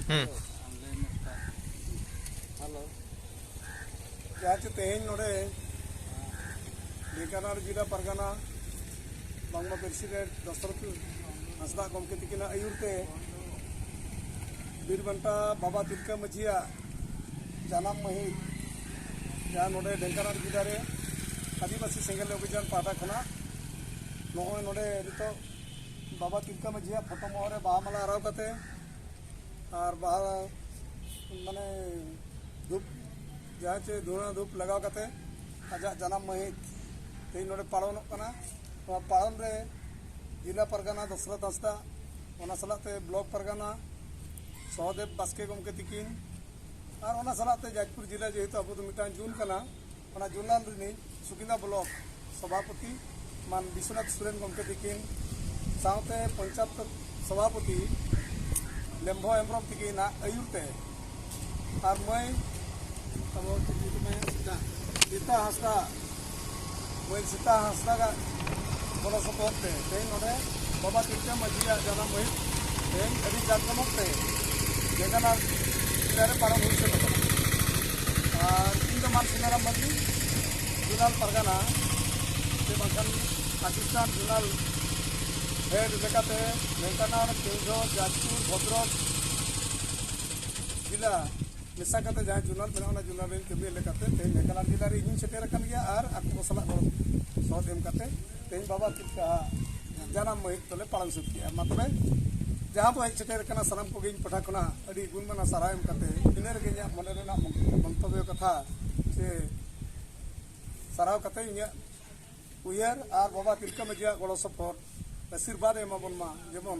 ᱦᱩᱸ ᱡᱟᱦᱟᱸ ᱪᱮ ᱛᱮᱦᱮᱧ ᱱᱚᱰᱮ ᱰᱷᱮᱸᱠᱟᱱᱟᱲ ᱡᱮᱞᱟ ᱯᱟᱨᱜᱟᱱᱟ ᱵᱟᱝᱢᱟ ᱯᱨᱮᱥᱤᱰᱮᱱᱴ ᱫᱚᱥᱨᱚᱛ ᱦᱟᱸᱥᱫᱟ ᱜᱚᱢᱠᱮ ᱛᱤᱠᱤᱱᱟᱜ ᱟᱹᱭᱩᱨ ᱛᱮ ᱵᱤᱨᱵᱟᱱᱴᱟ ᱵᱟᱵᱟ ᱛᱤᱞᱠᱟᱹ ᱢᱟᱹᱡᱷᱤᱭᱟᱜ ᱡᱟᱱᱟᱢ ᱢᱟᱹᱦᱤᱛ ᱡᱟᱦᱟᱸ ᱱᱚᱰᱮ ᱰᱮᱝᱠᱟᱱᱟᱨ ᱡᱮᱞᱟ ᱨᱮ ᱟᱹᱫᱤᱵᱟᱹᱥᱤ ᱥᱮᱸᱜᱮᱞ ᱚᱵᱷᱤᱡᱟᱱ ᱯᱟᱦᱴᱟ ᱠᱷᱚᱱᱟᱜ ᱱᱚᱜᱼᱚᱭ ᱱᱚᱰᱮ ᱱᱤᱛᱚᱜ ᱵᱟᱵᱟ ᱛᱤᱞᱠᱟᱹ ᱢᱟᱹᱡᱷᱤᱭᱟᱜ ᱯᱷᱳᱴᱳ ᱢᱚᱦᱚᱨ ᱨᱮ ᱵᱟᱦᱟ ᱢᱟᱞᱟ ᱟᱨᱟᱣ ᱠᱟᱛᱮ ᱟᱨ ᱵᱟᱦᱟ ᱢᱟᱱᱮ ᱫᱷᱩᱯ ᱡᱟᱦᱟᱸ ᱪᱮ ᱫᱷᱩᱬᱟᱹ ᱫᱷᱩᱯ ᱞᱟᱜᱟᱣ ᱠᱟᱛᱮ ᱟᱡᱟᱜ ᱡᱟᱱᱟᱢ ᱢᱟᱹᱦᱤᱛ ᱛᱮᱦᱮᱧ ᱱᱚᱰᱮ ᱯᱟᱞᱚᱱᱚᱜ ᱠᱟᱱᱟ ᱱᱚᱣᱟ ᱯᱟᱞᱚᱱ ᱨᱮ ᱡᱮᱞᱟ ᱯᱟᱨᱜᱟᱱᱟ ᱫᱚᱥᱨᱚᱛ ᱦᱟᱸᱥᱫᱟ ᱚᱱᱟ ᱥᱟᱞᱟᱜ ᱛᱮ ᱵᱞᱚᱠ ᱯᱟᱨᱜᱟᱱᱟ ᱥᱚᱦᱚᱫᱮᱵ ᱵᱟᱥᱠᱮ ᱜᱚᱢᱠᱮ ᱛᱤᱠᱤᱱ ᱟᱨ ᱚᱱᱟ ᱥᱟᱞᱟᱜ ᱛᱮ ᱡᱟᱡᱽᱯᱩᱨ ᱡᱮᱞᱟ ᱡᱮᱦᱮᱛᱩ ᱟᱵᱚ ᱫᱚ ᱢᱤᱫᱴᱟᱝ ᱡᱩᱱ ᱠᱟᱱᱟ ᱚᱱᱟ ᱡᱩᱱᱟᱞ ᱨᱤᱱᱤᱡ ᱥᱩᱠᱤᱱᱫᱟ ᱵᱞᱚᱠ ᱥᱚᱵᱷᱟᱯᱚᱛᱤ ᱢᱟᱱ ᱵᱤᱥᱣᱚᱱᱟᱛᱷ ᱥᱚᱨᱮᱱ ᱜᱚᱢᱠᱮ ᱛᱤᱠᱤᱱ ᱥᱟᱶᱛᱮ ᱯᱚᱧᱪᱟᱭᱮᱛ ᱥᱚᱵᱷᱟᱯᱚᱛᱤ ᱞᱮᱢᱵᱷᱚ ᱦᱮᱢᱵᱨᱚᱢ ᱛᱤᱠᱤᱱᱟᱜ ᱟᱹᱭᱩᱨ ᱛᱮ ᱟᱨ ᱢᱟᱹᱭ ᱟᱵᱚ ᱪᱮᱫ ᱧᱩᱛᱩᱢ ᱢᱮᱱᱟ ᱥᱤᱛᱟ ᱥᱤᱛᱟ ᱦᱟᱸᱥᱫᱟ ᱢᱟᱹᱭ ᱥᱤᱛᱟ ᱦᱟᱸᱥᱫᱟᱜᱟᱜ ᱜᱚᱲᱚ ᱥᱚᱯᱚᱦᱚᱫ ᱛᱮ ᱛᱮᱦᱮᱧ ᱱᱚᱰᱮ ᱵᱟᱵᱟ ᱛᱤᱞᱠᱟᱹ ᱢᱟᱹᱡᱷᱤᱭᱟᱜ ᱡᱟᱱᱟᱢ ᱢᱟᱹᱦᱤᱛ ᱛᱮᱦᱮᱧ ᱟᱹᱰᱤ ᱡᱟᱠ ᱡᱚᱢᱚᱠ ᱛᱮ ᱡᱮᱜᱟᱱᱟᱨ ᱡᱤᱞᱟ ᱨᱮ ᱯᱟᱨᱚᱢ ᱦᱩᱭ ᱥᱟᱹᱛ ᱟᱠᱟᱱᱟ ᱟᱨ ᱤᱧ ᱫᱚ ᱢᱟᱱ ᱥᱤᱱᱟᱨᱟᱢ ᱢᱟᱹᱡᱷᱤ ᱡᱩᱱᱟᱞ ᱯᱟᱨᱜᱟᱱᱟ ᱥᱮ ᱵᱟᱝᱠᱷᱟᱱ ᱯᱟᱠᱤᱥᱛᱟᱱ ᱡᱩᱱᱟᱞ ᱦᱮᱰ ᱞᱮᱠᱟᱛᱮ ᱰᱷᱮᱝᱠᱟᱱᱟᱲ ᱠᱮᱣᱡᱷᱚᱨ ᱡᱟᱡᱽᱯᱩᱨ ᱵᱷᱚᱫᱨᱚᱠ ᱡᱮᱞᱟ ᱢᱮᱥᱟ ᱠᱟᱛᱮ ᱡᱟᱦᱟᱸ ᱡᱩᱱᱟᱞ ᱢᱮᱱᱟᱜᱼᱟ ᱚᱱᱟ ᱡᱩᱱᱟᱞ ᱨᱮ ᱠᱟᱹᱢᱤ ᱞᱮᱠᱟᱛᱮ ᱛᱮᱦᱮᱧ ᱱᱟᱜᱟᱞᱟᱱ ᱡᱮᱞᱟ ᱨᱮ ᱤᱧ ᱥᱮᱴᱮᱨ ᱟᱠᱟᱱ ᱜᱮᱭᱟ ᱟᱨ ᱟᱠᱚ ᱠᱚ ᱥᱟᱞᱟᱜ ᱜᱚᱲᱚ ᱥᱚᱦᱚᱫ ᱮᱢ ᱠᱟᱛᱮ ᱛᱮᱦᱮᱧ ᱵᱟᱵᱟ ᱛᱤᱞᱠᱟ ᱡᱟᱱᱟᱢ ᱢᱟᱹᱦᱤᱛ ᱫᱚᱞᱮ ᱯᱟᱞᱚᱱ ᱥᱟᱹᱛ ᱠᱮᱜᱼᱟ ᱢᱟ ᱛᱚᱵᱮ ᱡᱟᱦᱟᱸ ᱵᱚ ᱦᱮᱡ ᱥᱮᱴᱮᱨ ᱟᱠᱟᱱᱟ ᱥᱟᱱᱟᱢ ᱠᱚᱜᱮ ᱤᱧ ᱯᱟᱦᱴᱟ ᱠᱷᱚᱱᱟᱜ ᱟᱹᱰᱤ ᱜᱩᱱᱢᱟᱱᱟ ᱥᱟᱨᱦᱟᱣ ᱮᱢ ᱠᱟᱛᱮ ᱤᱱᱟᱹ ᱨᱮᱜᱮ ᱤᱧᱟᱹᱜ ᱢᱚᱱᱮ ᱨᱮᱱᱟᱜ ᱢᱚᱱᱛᱚᱵᱽᱭᱚ ᱠᱟᱛᱷᱟ ᱥᱮ ᱥᱟᱨᱦᱟᱣ ᱠᱟᱛᱮ ᱤᱧᱟᱹᱜ ᱩᱭᱦᱟᱹᱨ ᱟᱨ ᱵᱟᱵᱟ ᱛᱤᱞᱠᱟᱹ ᱢᱟᱹᱡᱷᱤᱭᱟᱜ ᱜᱚᱲᱚ ᱥᱚᱯᱚᱦᱚᱫ ᱟᱥᱤᱨᱵᱟᱫᱽ ᱮᱢᱟᱵᱚᱱ ᱢᱟ ᱡᱮᱢᱚᱱ